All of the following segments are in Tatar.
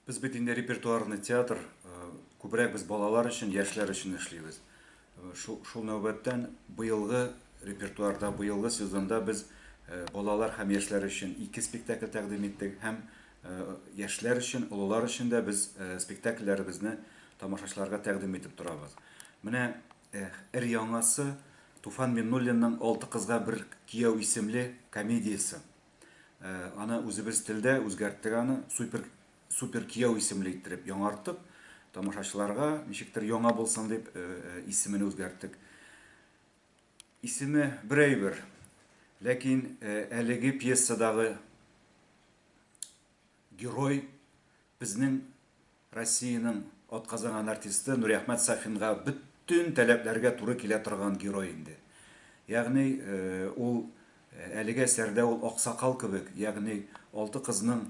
Без бит инде репертуарный театр, э, күбрәк без балалар өчен, яшьләр өчен эшлибез. Э, шул, шул нәүбәттән быелгы репертуарда, быелгы сезонда без э, балалар һәм яшьләр өчен ике спектакль тәкъдим иттек һәм яшьләр өчен, олылар өчен дә без спектакльләребезне тамашачыларга тәкъдим итеп торабыз. Менә эр яңасы Туфан Миннуллинның Алты кызга бер кияү исемле комедиясе. Э, аны үзебез телдә үзгәрттек аны супер супер кияү исемле иттереп яңарттык тамашачыларга ничектер яңа булсын дип э, э, исемен үзгәрттек исеме бер әйбер ләкин әлеге пьесадагы Герой, безнең Россиянең атказанган артисты Нуриәхмәт Сафинга бөтен таләпләргә туры килә торган герой инде. Ягъни, ул әлеге әсәрдә ул аксакал кебек, ягъни алты кызның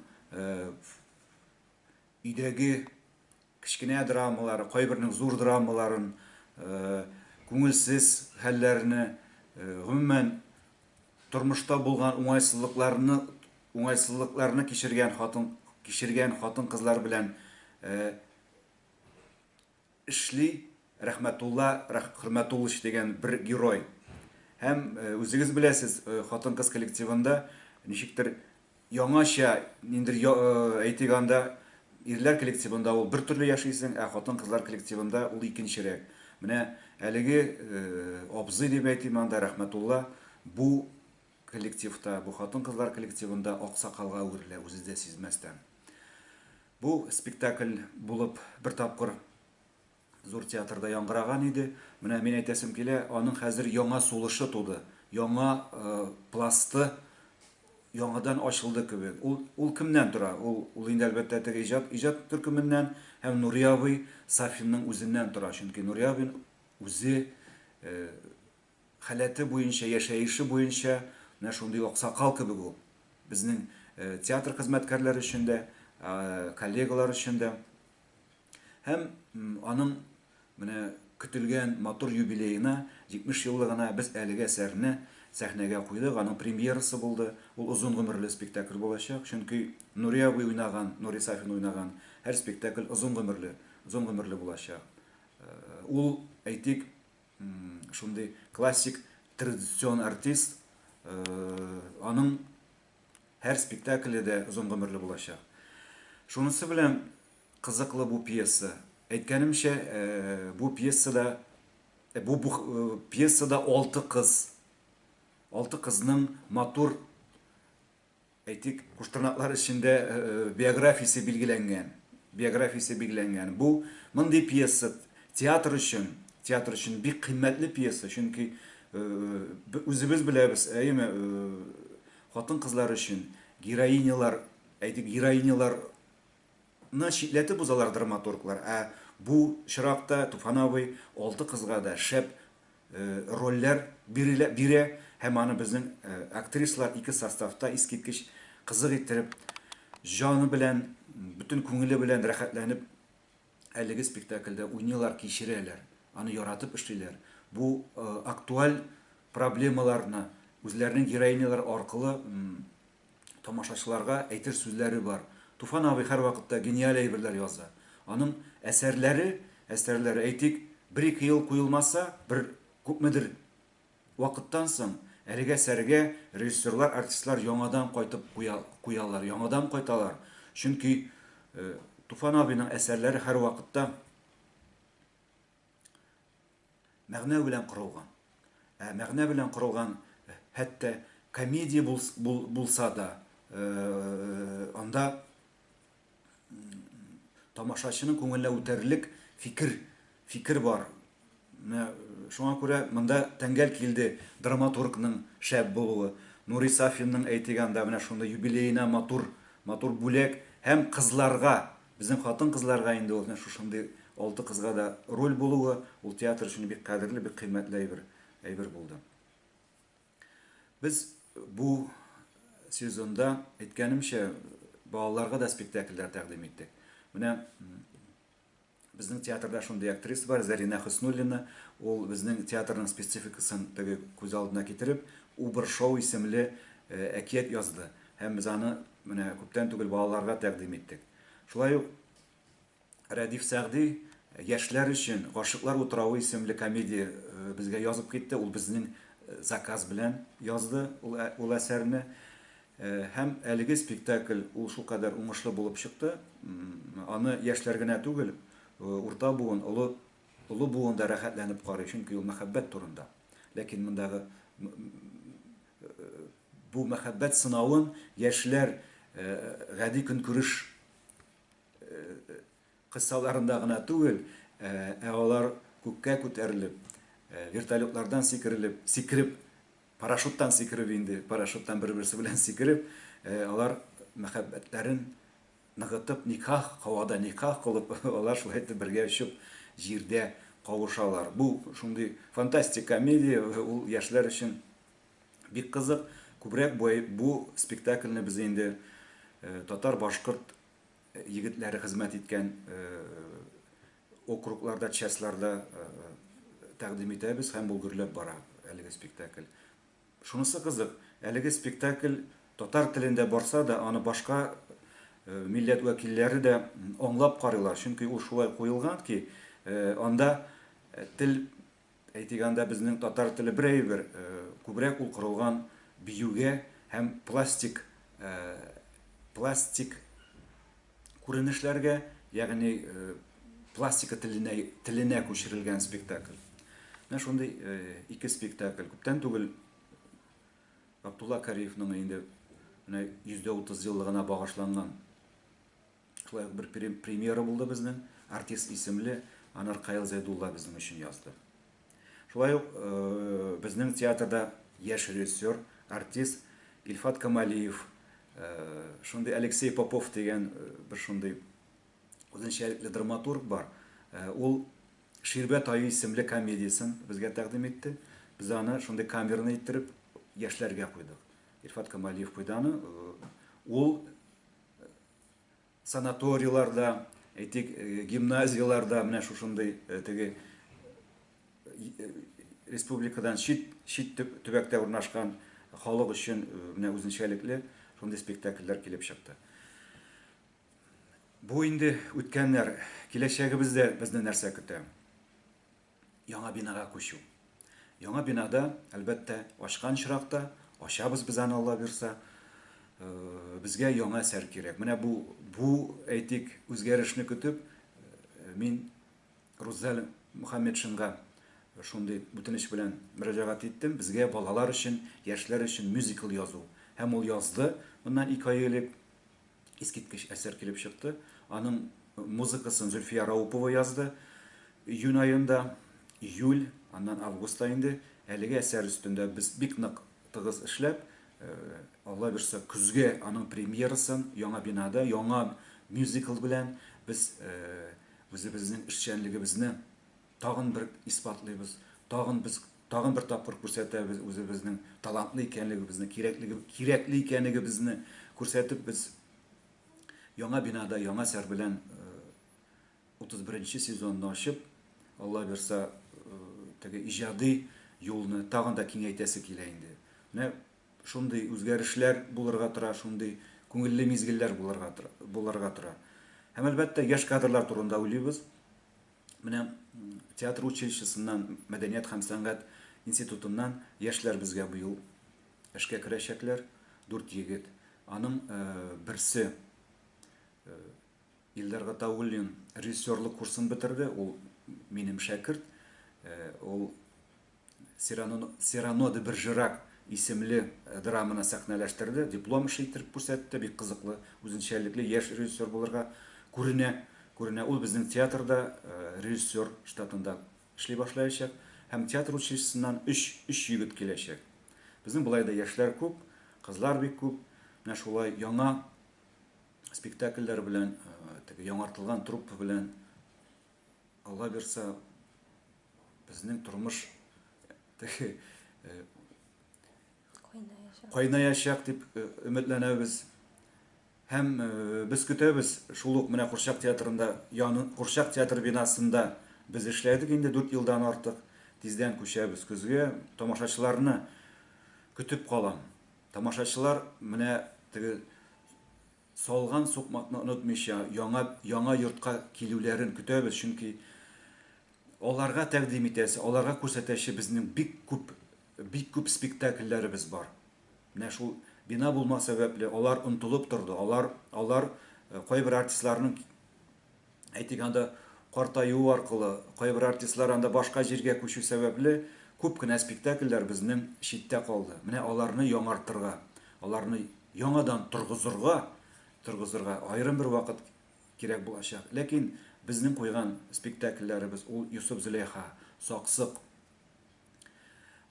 өйдәге Кечкенә драмалар, кайбернең зур драмаларын, күңелсез хәлләрне, гомумән, тормышта булган уңайсызлыкларны уңайсызлыкларны кичергән хатын кичергән хатын-кызлар белән эшли. Рәхмәтулла Хөрмәтуллыч дигән бер герой. Һәм, үзегез беләсез, хатын-кыз коллективында ничектер яңача, ниндидер әйтик анда, ирләр коллективында ул бертөрле яшисең, ә хатын-кызлар коллективында ул икенчерәк. Менә әлеге абзый дип әйтим анда, Рәхмәтулла, бу коллективта, бу хатын-кызлар коллективында аксакалга әверелә, үзе дә сизмәстән. Бу спектакль булып бер тапкыр Зур театрда яңгыраган иде. Менә мин әйтәсем килә, аның хәзер яңа сулышы туды, яңа пласты яңадан ачылды кебек. Ул, ул кемнән тора? Ул, ул инде, әлбәттә, теге иҗат, иҗат төркеменнән һәм Нури абый Сафинның үзеннән тора. Чөнки Нури абый үзе Халәте буенча, яшәеше буенча менә шундый аксакал кебек ул. Безнең театр хезмәткәрләре өчен дә, коллегалар өчен дә. Һәм аның менә көтелгән матур юбилеена, 70 еллыгына без әлеге әсәрне сәхнәгә куйдык. Аның премьерасы булды. Ул озын гомерле спектакль булачак, чөнки Нури абый уйнаган, Нури Сафин уйнаган һәр спектакль озын гомерле, озын гомерле булачак. Ул, әйтик, Шундый классик традицион артист, аның һәр спектакле дә озын гомерле булачак. Шунысы белән кызыклы бу пьеса. Әйткәнемчә, бу пьесада бу пьесада алты кыз, алты кызның матур Әйтик, Куштырнаклар эчендә биографиясе билгеләнгән, биографиясе билгеләнгән. Бу, мондый пьеса театр өчен, театр өчен бик кыйммәтле пьеса, чөнки үзебез беләбез, әйеме, хатын-кызлар өчен героинялар, әйтик, героинялар Ны читләтеп узалар драматурглар, ә бу чыракта Туфан абый алты кызга да шәп рольләр бирелә, бирә һәм аны безнең актрислар ике составта искиткеч кызык иттереп, җаны белән, бөтен күңеле белән рәхәтләнеп әлеге спектакльдә уйныйлар, кичерәләр, аны яратып эшлиләр. Бу актуаль проблемаларны үзләренең героинялары аркылы тамашачыларга әйтер сүзләре бар. Туфан абый һәрвакытта гениаль әйберләр яза. Аның әсәрләре, әстәрләре, әйтик, бер-ике ел куелмаса, бер күпмедер вакыттан соң, әлегә сәргә режиссерлар, артистлар яңадан кайтып куя, куялар, яңадан кайталар. Чөнки Туфан абыйның әсәрләре һәрвакытта Мәгънә белән корылган. Ә мәгънә белән корылган хәтта комедия бул, бул, булса да, э, анда тамашачының күңеленә үтәрлек фикер, фикер бар. Менә шуңа күрә монда тәңгәл килде драматургның шәп булуы. Нури Сафинның әйтегәндә менә шундый юбилеена матур, матур бүләк һәм кызларга, Безнең хатын-кызларга инде ул менә шушындый алты кызга да роль булуы, ул театр өчен бик кадерле, бик кыйммәтле әйбер, әйбер булды. Без бу сезонда, әйткәнемчә, балаларга да спектакльләр тәкъдим иттек. Менә безнең театрда шундый актриса бар, Зәринә Хөснуллина, ул безнең театрның спецификасын теге күз алдына китереп, Убыр шоу исемле әкият язды һәм без аны Менә күптән түгел балаларга тәкъдим иттек. Шулай ук Рәдиф Сәгъди яшьләр өчен Гашыйклар утравы исемле комедия безгә язып китте, ул безнең заказ белән язды ул әсәрне. Һәм әлеге спектакль ул шулкадәр уңышлы булып чыкты, аны яшьләр генә түгел, урта буын, олы олы буын да рәхәтләнеп карый, чөнки ул мәхәббәт турында. Ләкин мондагы Бу мәхәббәт сынавын яшьләр гади көнкүреш кыссаларында гына түгел, ә алар күккә күтәрелеп, вертолетлардан сикерелеп, сикереп, парашюттан сикереп инде, парашюттан бер-берсе белән сикереп, алар мәхәббәтләрен ныгытып никах һавада никах кылып алар шулай итеп бергә очып җирдә кавышалар. Бу шундый фантастик комедия ул яшьләр өчен бик кызык. Күбрәк бу бу спектакльне без инде татар башкорт егетләре хезмәт иткән округларда частьларда тәкъдим итәбез һәм бу гөрләп бара әлеге спектакль. Шунысы кызык, әлеге спектакль татар телендә барса да, аны башка милләт вәкилләре дә аңлап карыйлар, чөнки ул шулай куелган ки, анда тел, әйтик, анда безнең татар теле бер әйбер, күбрәк ул корылган биюгә һәм пластик, пластик күренешләргә, ягъни пластика теленә, теленә күчерелгән спектакль. Менә шундый ике спектакль. Күптән түгел Абдулла Кариевның инде менә 130 еллыгына багышланган шулай ук бер премьера булды безнең артист исемле анар каил зәйдулла безнең өчен язды Шулай ук безнең театрда яшь режиссер, артист Илфат Камалиев, шундый Алексей Попов дигән бер шундый үзенчәлекле драматург бар. Ул Ширбәт аю исемле комедиясен безгә тәкъдим итте. Без аны шундый камерный иттереп яшьләргә куйдык. Илфат Камалиев куйды аны. Ул Санаторийларда, әйтик, гимназияларда менә шушындый теге республикадан чит, чит төбәктә урнашкан халык өчен менә үзенчәлекле шундый спектакльләр килеп чыкты. Бу инде үткәннәр, киләчәгебездә безне нәрсә көтә? Яңа бинага күчү. Яңа бинада, әлбәттә, ачкан очракта, ачабыз без аны, Алла бирса, безгә яңа әсәр кирәк. Менә бу, бу, әйтик, үзгәрешне көтеп, мин Руззәл Мөхәммәтшинга шундый үтенеч белән мөрәҗәгать иттем, безгә балалар өчен, яшьләр өчен мюзикл язу. Һәм ул язды моннан ике ай элек. Искиткеч әсәр килеп чыкты. Аның музыкасын Зөлфия Раупова язды. Июнь аенда, июль, аннан августта инде әлеге әсәр өстендә без бик нык тыгыз эшләп, Алла бирса, көзгә аның премьерасын Яңа бинада, яңа мюзикл белән без үзебезнең эшчәнлегебезне Тагын бер исбатлыйбыз, тагын без тагын бер тапкыр күрсәтәбез үзебезнең талантлы икәнлегебезне, кирәкле кирәкле икәнегебезне күрсәтеп без яңа бинада яңа сәр белән 31 нче сезонны ачып, Алла бирса, теге иҗади юлны тагын да киңәйтәсе килә инде. Менә шундый үзгәрешләр булырга тора, шундый күңелле мизгелләр булырга булырга тора. Һәм әлбәттә, яшь кадрлар турында уйлыйбыз. Менә театр училищесыннан, мәдәният һәм сәнгать институтыннан яшьләр безгә быел эшкә керәчәкләр, дүрт егет. Аның берсе Илдар Гатауллин режиссерлык курсын бетерде, ул минем шәкерт, ул Сирано де Бержерак исемле драманы сәхнәләштерде, диплом эше иттереп күрсәтте, бик кызыклы, үзенчәлекле яшь режиссер булырга күренә, күренә. Ул безнең театрда режиссер штатында эшли башлаячак һәм театр училищесыннан өч, өч егет киләчәк. Безнең болай да яшьләр күп, кызлар бик күп, менә шулай яңа спектакльләр белән, теге яңартылган труппа белән, Аллабирса, Безнең тормыш теге кайнаячак. Кайнаячак дип өметләнәбез. Һәм без көтәбез, шул ук менә Курчак театрында, яны Курчак театр бинасында без эшләдек инде 4 елдан артык. Тиздән күчәбез көзгә. Тамашачыларны көтеп калам. Тамашачылар менә теге Салган сукмакны онытмыйча, яңа яңа йортка килүләрен көтәбез, чөнки аларга тәкъдим итәсе, аларга күрсәтәче безнең бик күп, бик күп спектакльләребез бар. Менә шул бина булмау сәбәпле, алар онытылып торды, алар, алар кайбер артистларның Әйтик, анда картаю аркылы, кайбер артистлар анда башка җиргә күчү сәбәпле, күп кенә спектакльләр безнең читтә калды. Менә аларны яңартырга, аларны яңадан торгызырга, торгызырга аерым бер вакыт кирәк булачак. Ләкин безнең куйган спектакльләребез, ул Йосыф-Зөләйха, Саксык,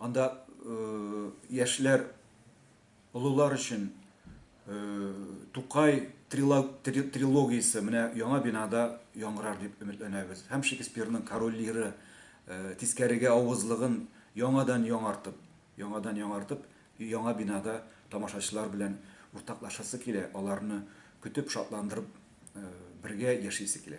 Анда яшьләр олылар өчен Тукай трилогиясе менә яңа бинада яңгырар дип өметләнәбез. Һәм Шекспирның Король Лиры тискәрегә авызлыгын яңадан яңартып, яңадан яңартып, яңа бинада тамашачылар белән уртаклашасы килә, аларны көтеп, шатландырып бергә яшисе килә.